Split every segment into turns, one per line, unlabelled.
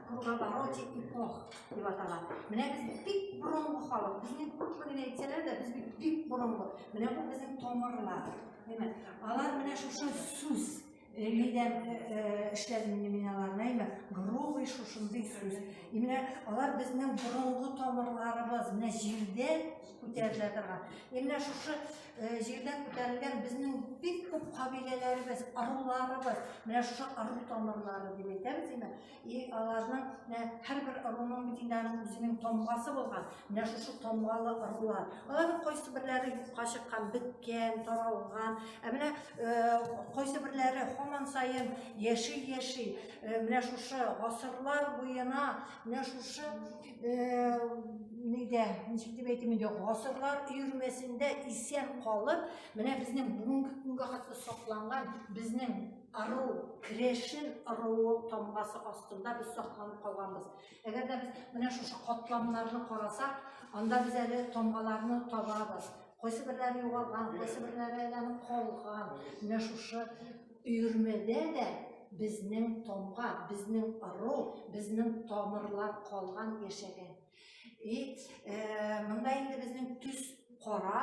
круговоротик эпох дип атала менә без бик борынгы халык безнең күпме генә әйтсәләр дә без бит бик борынгы менә бу безнең тамырлар әйме алар менә шушы сүз лидер эшләреннән мин аларны әйме грубый шушындый сүз менә алар безнең борынгы тамырларыбыз менә җирдә күтәрелә торган менә шушы Җирдән күтәрелгән безнең бик күп кабиләләребез, ыруларыбыз, менә шушы ыру тамырлары дип әйтәбез инде. И аларның менә һәрбер ыруның бит инде аның үзенең тамгасы булган. Менә шушы тамгалы ырулар. Аларның кайсы берләре юкка чыккан, беткән, таралган. Ә менә кайсы берләре һаман саен яши-яши, менә шушы гасырлар буена, менә шушы Э, нидә ничек дип әйтим инде гасырлар өермәсендә исән калып менә безнең бүгенге көнгә хәтле сакланган безнең ару крешин аруы тамгасы астында без сакланып калганбыз әгәр дә без менә шушы катламнарны карасак анда без әле тамгаларны табабыз кайсы берләре югалган кайсы берләре әле калган менә шушы Өермәдә дә безнең тамга, безнең ыру, безнең тамырлар калган, яшәгән. И, э, монда инде безнең төс кара,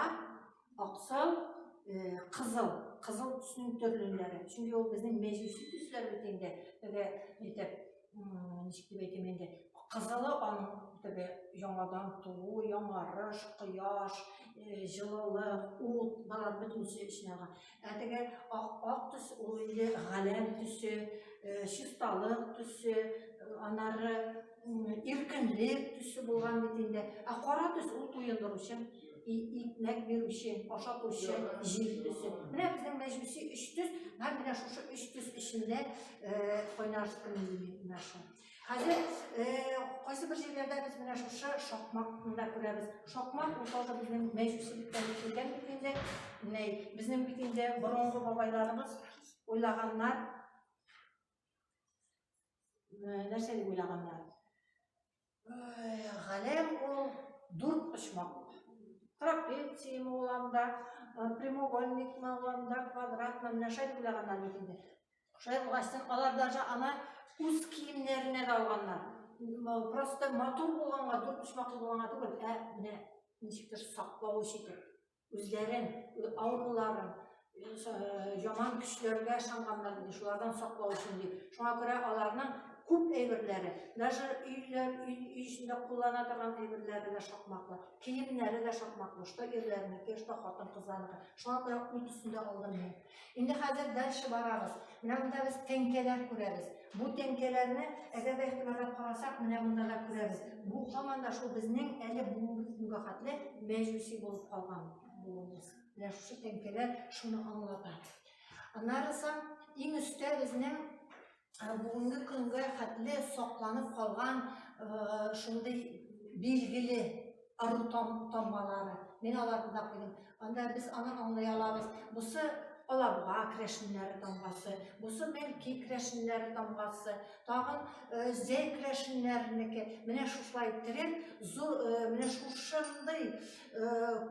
аксыл, э, кызыл, кызыл төснең төрлеләре. Чөнки ул безнең мәҗүси төсләр бит инде, теге, әйтеп, ничек дип әйтим инде кызылы аның теге яңадан туу яңарыш кояш э, җылылык ут болар бөтенесе эченә алган ә теге ак ак төс ул инде галәм төсе э, чисталык төсе анары иркенлек төсе булган бит инде ә кара төс ул туендыручы икмәк бирүче, ашатучы, җир төсе. Менә безнең мәҗүси өч төс, һәм менә шушы өч төс эчендә э, кайнашты менә шул. Хәзер э, кайсы бер җирләрдә без менә шушы шакмакны да күрәбез. Шакмак ул тоже безнең мәҗүсилектән килгән бит инде. Менә безнең бит инде борынгы бабайларыбыз уйлаганнар. Э, нәрсә дип уйлаганнар? Галәм ул дүрт почмаклы. Трапецием ул анда, прямоугольникмы ул анда, квадратмы, менә шәй уйлаганнар бит инде. Шәй уйластын, алар даже аны үз киемнәренә дә алганнар. Просто матур булганга, дүрт почмаклы булганга түгел, ә менә ничектер саклау өчен үзләрен, авыруларын, яман көчләргә ышанганнарын, шулардан саклау өчен дип. Шуңа күрә аларның күп әйберләре, даже өйләр, өй эчендә куллана торган әйберләре дә шакмаклы, киемнәре дә шакмаклы, что ирләрнеке, что хатын-кызларныкы. Шуңа күрә ут өстендә алдым мин. Инде хәзер дальше барабыз. Менә монда без тәңкәләр күрәбез. Бу тәңкәләрне әгәр дә игътибарлап карасак, менә монда да күрәбез. Бу һаман да шул безнең әле бүгенге хәтле мәҗүси булып калган булуыбыз. Менә шушы тәңкәләр шуны аңлата. Аннары соң иң өстә безнең бүгенге көнгә хәтле сакланып калган шундый билгеле ару тамгалары. Мин аларны да куйдым. Анда без аны аңлый алабыз. Бусы алабуга крәшеннәре тамгасы, бусы бәлки крәшеннәре тамгасы, тагын э, зәй крәшеннәренеке. Менә шушылай иттереп, зур, э, менә шушындый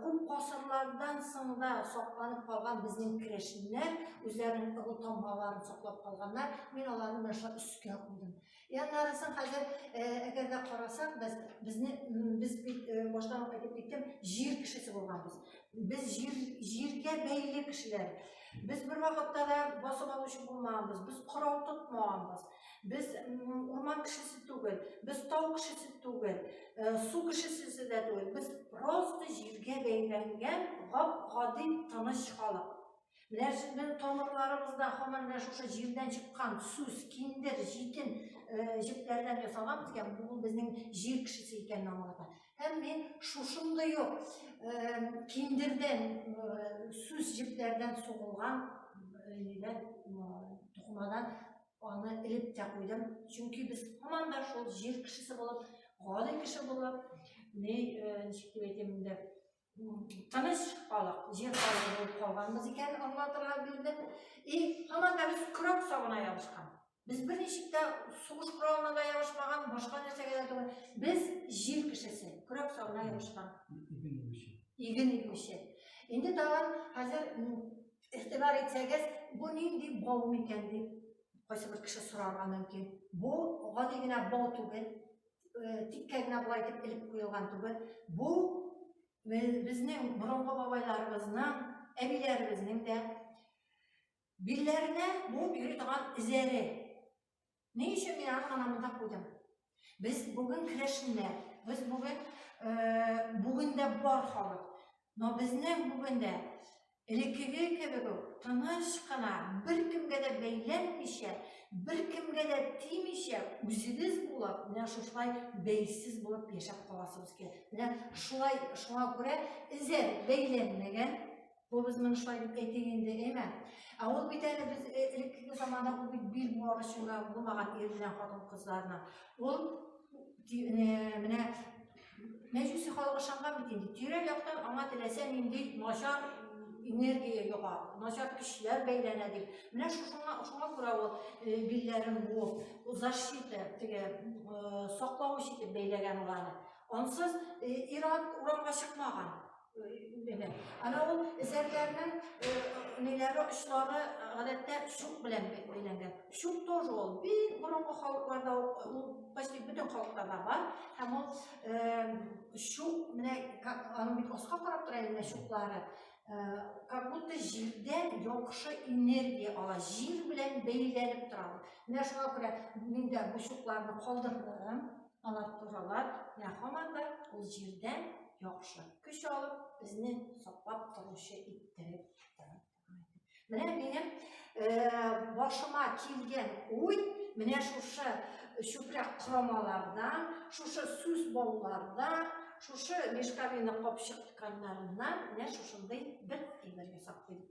күп гасырлардан соң да сакланып калган безнең керәшеннәр үзләренең ыру тамгаларын саклап калганнар. Мин аларны менә шулай өскә куйдым. Яннарысын хәзер әгәр дә карасак, без безне без бит баштан ук әйтеп киттем, җир кешесе булганбыз. Без җир җиргә бәйле кешеләр. Без бер вакытта да басып алучы булмаганбыз, без корал тотмаганбыз. Без урман кешесе түгел, без тау кешесе түгел, э, су кешесе дә түгел. Без просто җиргә бәйләнгән гап-гади тыныч халык. Менә сезнең тамырларыбызда һаман менә шушы җирдән чыккан сүз, киндер, җитен э, җепләрдән ясалган икән, бу безнең җир кешесе икәнен аңлата. Һәм мин шушындый ук киндердән, сүз җепләрдән сугылган нидән, тукымадан аны элеп тә куйдым. Чөнки без һаман да шул җир кешесе булып, гади кеше булып, ни, ничек дип әйтим инде, Тыныч халык, җир халкы булып калганбыз икән, Алла Тәгалә бирде. И, һаман да без көрәк сабына ябышкан. Без берничек тә сугыш коралына да ябышмаган, башка нәрсәгә дә түгел. Без җир кешесе, көрәк сабына ябышкан. Иген игүче. Иген игүче. Инде тагын хәзер игътибар итсәгез, бу нинди бау микән дип кайсы бер кеше сорарга мөмкин. Бу гади генә бау түгел. э, тиккә генә болай итеп элеп куелган түгел. Бу безнең борынгы бабайларыбызның, әбиләребезнең дә билләренә буып йөри торган эзәре. Ни өчен мин аны гына монда куйдым? Без бүген керәшеннәр, без бүген э, бүген дә бар халык. Но безнең бүген дә Элеккеге кебек үк тыныч кына, беркемгә дә бәйләнмичә, беркемгә дә тимичә, үзегез булып, менә шушылай бәйсез булып яшәп каласыбыз килә. Менә шулай, шуңа күрә эзе бәйләнмәгән, Кобыз моны шулай дип әйтик инде, әйме? Ә ул бит әле без элеккеге заманда ул бит бил буар өчен генә булмаган ир белән хатын-кызларның. Ул менә Мәҗүси халык ышанган бит инде. Тирә-яктан аңа теләсә нинди начар энергия йога, начар көчләр бәйләнә дип. Менә шушыңа шуңа күрә ул э, билләрен бу защита теге э, саклавыч итеп бәйләгән уларны. Ансыз э, ират урамга чыкмаган. Бәлә. Ана ул эзәргәрнең э, ниләре очлары э, гадәттә шук белән бәйләнгән. Шук тоже ул бик борынгы халыкларда ул почти бөтен халыкларда бар. Һәм ул э, шук менә аның бит аска карап тора инде шуклары. Как будто җирдән яхшы энергия ала, җир белән бәйләнеп тора. Менә шуңа күрә мин дә бу шукларны калдырдым. Анатуралар менә һаман да ул җирдән яхшы көч алып, безне саклап торучы иттереп тора. Менә минем э, башыма килгән уй, менә шушы чүпрәк корамалардан, шушы сүз баулардан, шушы мешковина капчык тканьнарыннан менә шушындый бер әйбер ясап куйдым.